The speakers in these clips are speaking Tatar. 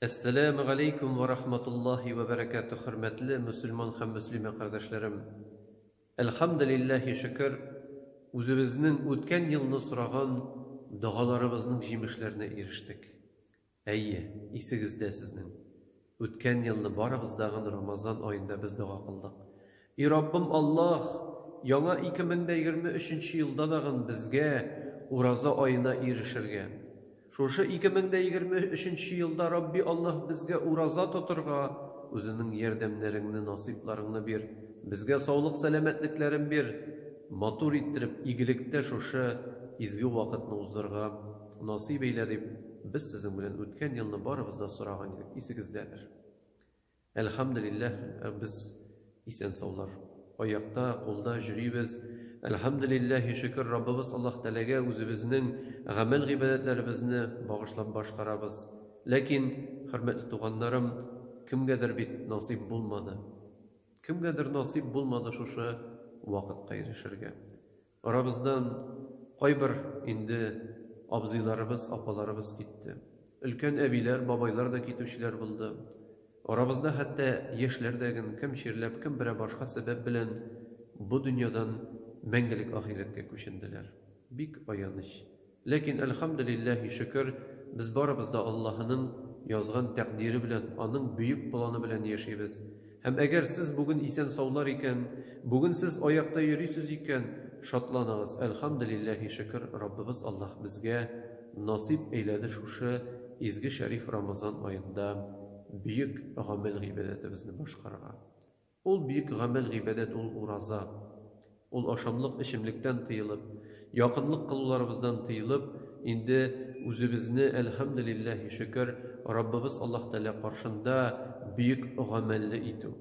Әссәләмү галәйкүм вә рахматуллаһи вә бәрәкәтүһ Хөрмәтле мөселман һәм мөслимә кардәшләрем! Әлхәмделилләһи шөкер, үзебезнең үткән елны сораган догаларыбызның җимешләренә ирештек. Әйе, исегездә сезнең, үткән елны барыбыз да гын Рамазан аенда без дога кылдык. И Раббым Аллаһ! Яңа 2023 нче елда дагын безгә ураза аена ирешергә. Шушы 2023 нче елда Рабби Аллаһ безгә ураза тотырга Үзенең ярдәмнәреңне, насыйпларыңны бир, безгә саулык-сәламәтлекләрен бир, матур иттереп, игелектә шушы изге вакытны уздырырга насыйп әйлә, дип без сезнең белән үткән елны барыбыз да сораган идек, исегездәдер. Әлхәмделилләһ, без исән-саулар. Аякта, кулда җөрибез. Әлхәмделилләһи шөкер, Раббыбыз Аллаһ Тәләгә үзебезнең гамәл-гыйбадәтләребезне багышлап башкарабыз. Ләкин, хөрмәтле туганнарым, кемгәдер бит насыйп булмады. Кемгәдер насыйп булмады шушы вакытка ирешергә. Арабыздан кайбер инде абзыйларыбыз, апаларыбыз китте. Өлкән әбиләр, бабайлар да китүчеләр булды. Арабызда хәтта яшьләр дә ген, кем чирләп, кем берәр башка сәбәп белән бу дөньядан мәңгелек ахирәткә күченделәр. Бик аяныч. Ләкин, әлхәмделилләһи, шөкер, без барыбыз да Аллаһының язган тәкъдире белән, Аның бөек планы белән яшибез. Һәм әгәр сез бүген исән-саулар икән, бүген сез аякта йөрисез икән, шатланыгыз, әлхәмделилләһи, шөкер, Раббыбыз Аллаһ безгә насыйп әйләде шушы изге шәриф Рамазан аенда бөек гамәл-гыйбадәтебезне башкарырга. Ул бөек гамәл-гыйбадәт ул ураза. Ул ашамлык-эчемлектән тыелып, якынлык кылуларыбыздан тыелып, инде үзебезне, әлхәмделилләһи шөкер, Раббыбыз Аллаһ Тәгалә каршында бөек гамәлле итү.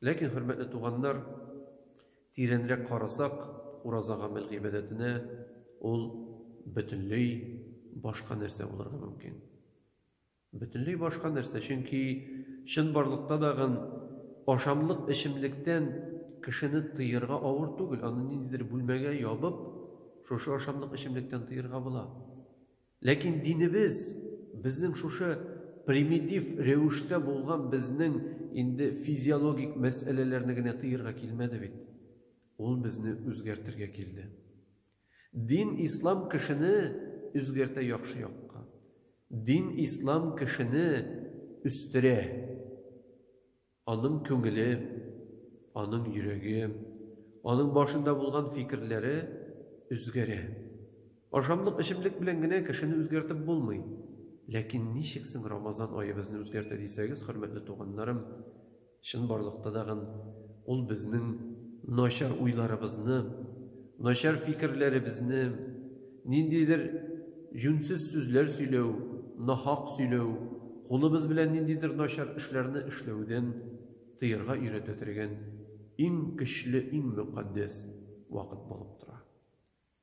Ләкин, хөрмәтле туганнар, тирәнрәк карасак, ураза гамәл-гыйбадәтенә, ул бөтенләй башка нәрсә булырга мөмкин. Бөтенләй башка нәрсә, чөнки чынбарлыкта да гын ашамлык эчемлектән кешене тыерга авыр түгел, аны ниндидер бүлмәгә ябып, шушы ашамлык эчемлектән тыерга була. Ләкин динебез, безнең шушы примитив рәвештә булган безнең инде физиологик мәсьәләләрне генә тыерга килмәде бит. Ул безне үзгәртергә килде. Дин ислам кешене үзгәртә яхшы якка. Дин ислам кешене үстерә. Аның күңеле, аның йөрәге, аның башында булган фикерләре үзгәрә. Ашамлык эчемлек белән генә кешене үзгәртеп булмый. Ләкин ничек соң Рамазан ае безне үзгәртә дисәгез, хөрмәтле туганнарым, Чынбарлыкта тагын Ул безнең начар уйларыбызны, начар фикерләребезне, ниндидер җүнсез сүзләр сөйләү, нахак сөйләү, кулыбыз белән ниндидер начар эшләрне эшләүдән тыярга өйрәтә тергән иң көчле, иң мөкатдәс вакыт булып тора.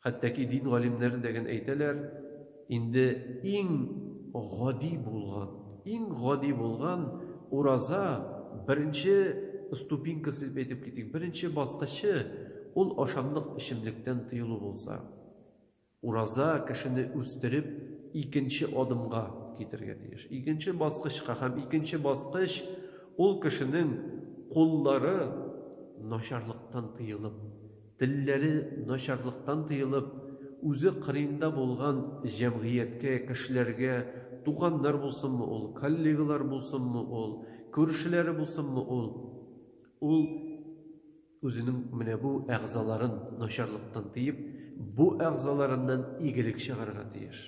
Хәтта ки дин галимнәре дә гел әйтәләр, инде иң гади булган, иң гади булган ураза, беренче ступенькасы дип әйтеп китик, беренче баскычы, ул ашамлык, эчемлектән тыелу булса, ураза кешене үстереп, икенче адымга китергә тиеш. Икенче баскычка һәм икенче баскыч, ул кешенең куллары начарлыктан тыелып, Телләре начарлыктан тыелып, үзе кырыенда булган җәмгыятькә, кешеләргә, туганнар булсынмы ул, коллегалар булсынмы ул, күршеләре булсынмы ул, ул үзенең менә бу әгъзаларын начарлыктан тыеп, бу әгъзаларыннан игелек чыгарга тиеш.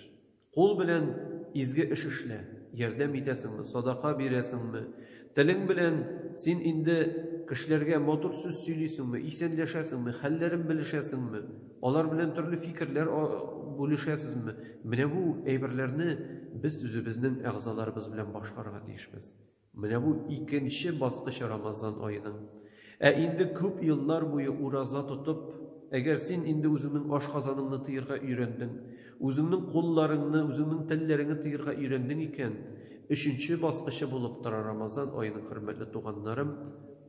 Кул белән изге эш эшлә, ярдәм итәсеңме, садака бирәсеңме, телең белән син инде кешеләргә матур сүз сөйлисеңме, исәнләшәсеңме, хәлләрен белешәсеңме, алар белән төрле фикерләр бүлешәсезме, менә бу әйберләрне без үзебезнең әгъзаларыбыз белән башкарырга тиешбез. Менә бу икенче баскыч Рамазан аеның. Ә инде күп еллар буе ураза тотып, әгәр син инде үзеңнең ашказаныңны тыерга өйрәндең, үзеңнең кулларыңны, үзеңнең телләреңне тыерга өйрәндең икән, өченче баскычы булып тора Рамазан аеның, хөрмәтле туганнарым,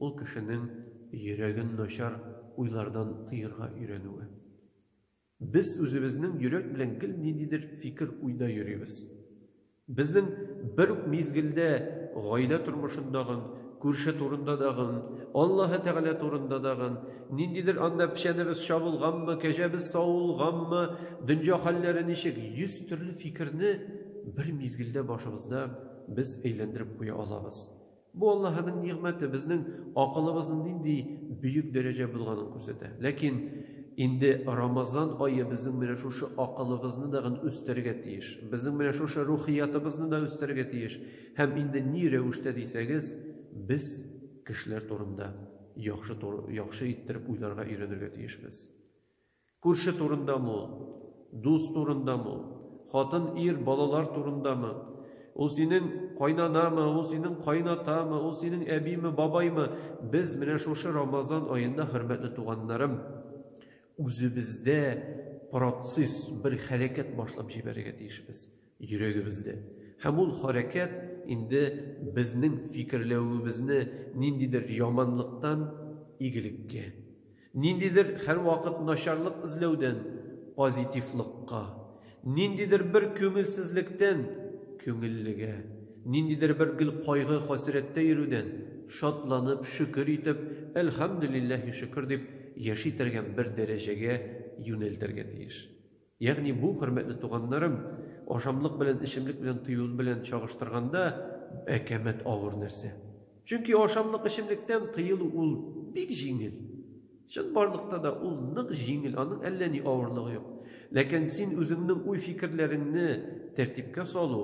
ул кешенең йөрәген начар уйлардан тыерга өйрәнүе. Без үзебезнең йөрәк белән гел ниндидер фикер-уйда йөрибез. Безнең бер үк мизгелдә гаилә тормышында гын, күрше турында да гын, Аллаһы Тәгалә турында да гын, ниндидер анда печәнебез чабылганмы, кәҗәбез савылганмы, дөнья хәлләре ничек, йөз төрле фикерне бер мизгелдә башыбызда без әйләндереп куя алабыз. Бу Аллаһының нигъмәте, безнең акылыбызның нинди бөек дәрәҗә булганын күрсәтә. Ләкин инде Рамазан ае безнең менә шушы акылыбызны да гын үстерергә тиеш. Безнең менә шушы рухиятыбызны да үстерергә тиеш. Һәм инде ни рәвештә дисәгез, без кешеләр турында яхшы яхшы иттереп уйларга өйрәнергә тиешбез. Күрше турындамы ул? Дус турындамы ул? Хатын, ир, балалар турындамы? Ул синең кайнанамы, ул синең кайнатамы, ул синең әбиме, бабаймы? Без менә шушы Рамазан аенда, хөрмәтле туганнарым, үзебездә процесс, бер хәрәкәт башлап җибәрергә тиешбез. Йөрәгебездә. Һәм ул хәрәкәт инде безнең фикерләвебезне ниндидер яманлыктан игелеккә, ниндидер һәрвакыт начарлык эзләүдән позитивлыкка, ниндидер бер күңелсезлектән күңеллегә, ниндидер бер гел кайгы-хәсрәттә йөрүдән шатланып, шөкер итеп, әлхәмдүлилләһи шөкер дип яши торган бер дәрәҗәгә юнәлтергә тиеш. Ягъни бу, хөрмәтле туганнарым, ашамлык белән эчемлек белән тыю белән чагыштырганда, әкәмәт авыр нәрсә. Чөнки ашамлык эчемлектән тыелу ул бик җиңел. Чынбарлыкта да ул нык җиңел, аның әллә ни авырлыгы юк. Ләкин син үзеңнең уй-фикерләреңне тәртипкә салу,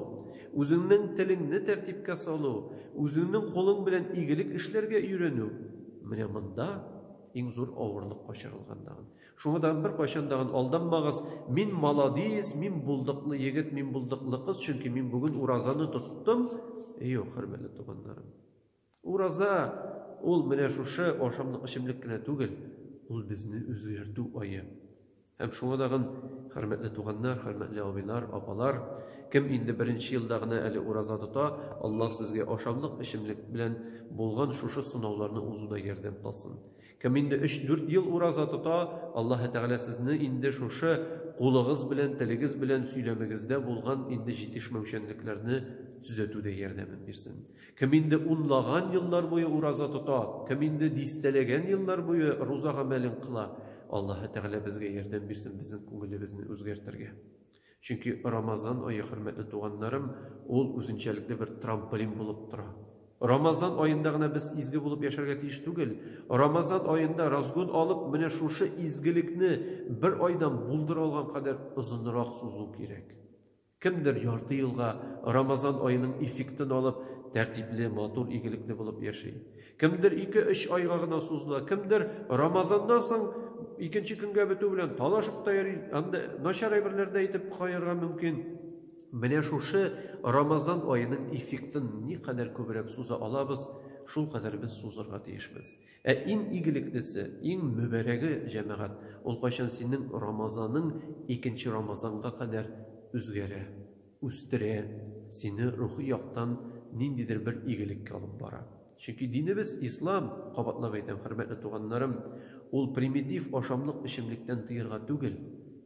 үзеңнең телеңне тәртипкә салу, үзеңнең кулың белән игелек эшләргә өйрәнү, менә монда иң зур авырлык качырылган тагын. Шуңа да беркайчан дагын алданмагыз, мин маладис, мин булдыклы егет, мин булдыклы кыз, чөнки мин бүген уразаны тоттым. Юк, хөрмәтле туганнарым. Ураза ул менә шушы ашамлык эчемлек кенә түгел, ул безне үзгәртү ае. Һәм шуңа дагын, хөрмәтле туганнар, хөрмәтле абыйлар, апалар, кем инде беренче елда гына әле ураза тота, Аллаһ сезгә ашамлык эчемлек белән булган шушы сынауларны узуда ярдәм кылсын. Кем инде өч-дүрт ел ураза тота, Аллаһы Тәгалә сезне инде шушы кулыгыз белән, телегез белән сөйләмегездә булган инде җитешмәүчәнлекләрне төзәтүдә ярдәмен бирсен. Кем инде унлаган еллар буе ураза тота, кем инде дистәләгән еллар буе руза гамәлен кыла, Аллаһы Тәгалә безгә ярдәм бирсен безнең күңелебезне үзгәртергә. Чөнки Рамазан ае, хөрмәтле туганнарым, ул үзенчәлекле бер трамполин булып тора. Рамазан аенда гына без изге булып яшәргә тиеш түгел. Рамазан аенда разгон алып, менә шушы изгелекне бер айдан булдыра алган кадәр озынрак сузу кирәк. Кемдер ярты елга Рамазан аеның эффектын алып, тәртипле, матур, игелекле булып яши. Кемдер ике-өч айга гына сузына, кемдер Рамазаннан соң икенче көнгә бетү белән талашып та йөри, анда начар әйберләр дә әйтеп каерга мөмкин. Менә шушы Рамазан аеның эффектын никадәр күбрәк суза алабыз, шулкадәр без сузырга тиешбез. Ә иң игелеклесе, иң мөбарәге, җәмәгать, ул кайчан синең Рамазаның икенче Рамазанга кадәр үзгәрә. үстерә, сине рухи яктан ниндидер бер игелеккә алып бара. Чөнки динебез, ислам, кабатлап әйтәм, хөрмәтле туганнарым, ул примитив ашамлык-эчемлектән тыерга түгел,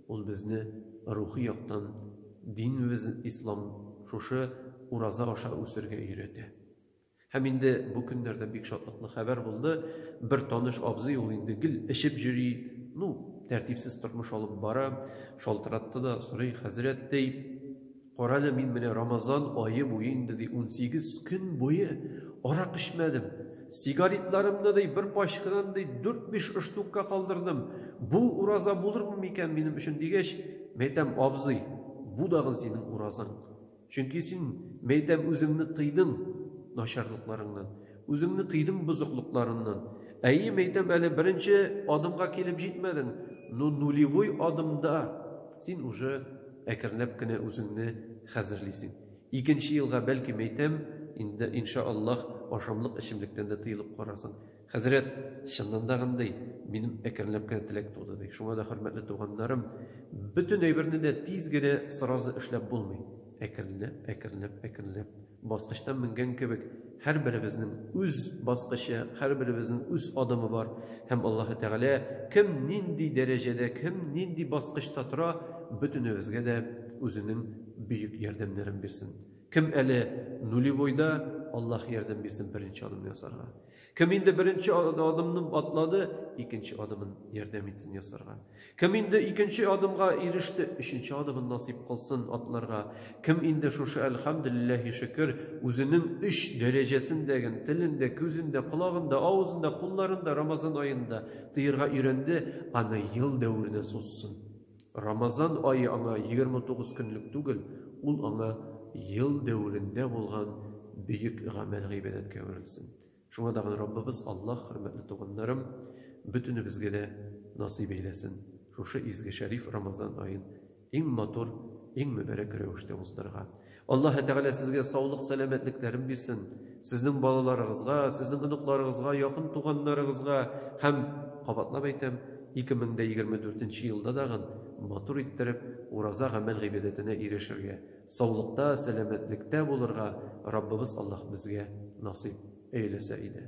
ул безне рухи яктан динебез, ислам, шушы ураза аша үсергә өйрәтә. Һәм инде бу көннәрдә бик шатлыклы хәбәр булды, бер таныш абзый, ул инде гел эчеп җөри, ну, тәртипсез тормыш алып бара, шалтыратты да, сорый, Хәзрәт, ди, карале, мин менә Рамазан ае буе инде, ди, унсигез көн буе арак эчмәдем, сигаретларымны, ди, бер пачкадан, ди, дүрт-биш штукка калдырдым, бу ураза булырмы микән минем өчен, дигәч, мин әйтәм, абзый, бу дагын синең уразаң. Чөнки син, мәйтәм, үзеңне тыйдың начарлыкларыңнан, үзеңне тыйдың бозыклыкларыннан. Әйе, мәйтәм, әле беренче адымга килеп җитмәдең, но нулевой адымда син уже әкренләп кенә үзеңне хәзерлисең. Икенче елга, бәлки, мәйтәм, инде, иншааллаһ, ашамлык-эчемлектән дә тыелып карарсың. Хәзрәт, чыннан да гындый, минем әкренләп кенә теләк туды, ди. Шуңа да, хөрмәтле туганнарым, бөтен әйберне дә тиз генә, сразу эшләп булмый. Әкренләп, әкренләп, әкренләп, баскычтан менгән кебек, һәрберебезнең үз баскычы, һәрберебезнең үз адымы бар. Һәм Аллаһы Тәгалә кем нинди дәрәҗәдә, кем нинди баскычта тора, бөтенебезгә дә Үзенең бөек ярдәмнәрен бирсен. Кем әле нулевойда, Аллаһ ярдәм бирсен беренче адымны ясарга. Кем инде беренче адымны атлады, икенче адымын ярдәм итсен ясарга. Кем инде икенче адымга иреште, өченче адымын насыйп кылсын атларга. Кем инде шушы әлхәмдүлилләһи шөкер үзенең өч дәрәҗәсен дә гел телендә, күзендә, колагында, авызында, кулларында Рамазан аенда тыерга өйрәнде, аны ел дәверенә сузсын. Рамазан ае аңа егерме тугыз көнлек түгел, ул аңа ел дәверендә булган бөек гамәл-гыйбадәткә әверелсен. Шуңа тагын Раббыбыз Аллаһ, хөрмәтле туганнарым, бөтенебезгә дә насыйп әйләсен шушы изге шәриф Рамазан аен иң матур, иң мөбарәк рәвештә уздырырга. Аллаһы Тәгалә сезгә саулык сәламәтлекләрен бирсен, сезнең балаларыгызга, сезнең оныкларыгызга, якын туганнарыгызга һәм, кабатлап әйтәм, 2024 нче елда дагын матур иттереп ураза гамәл гыйбадәтенә ирешергә, саулыкта, сәламәтлектә булырга Раббыбыз Аллаһ безгә насыйп эйләсә иде.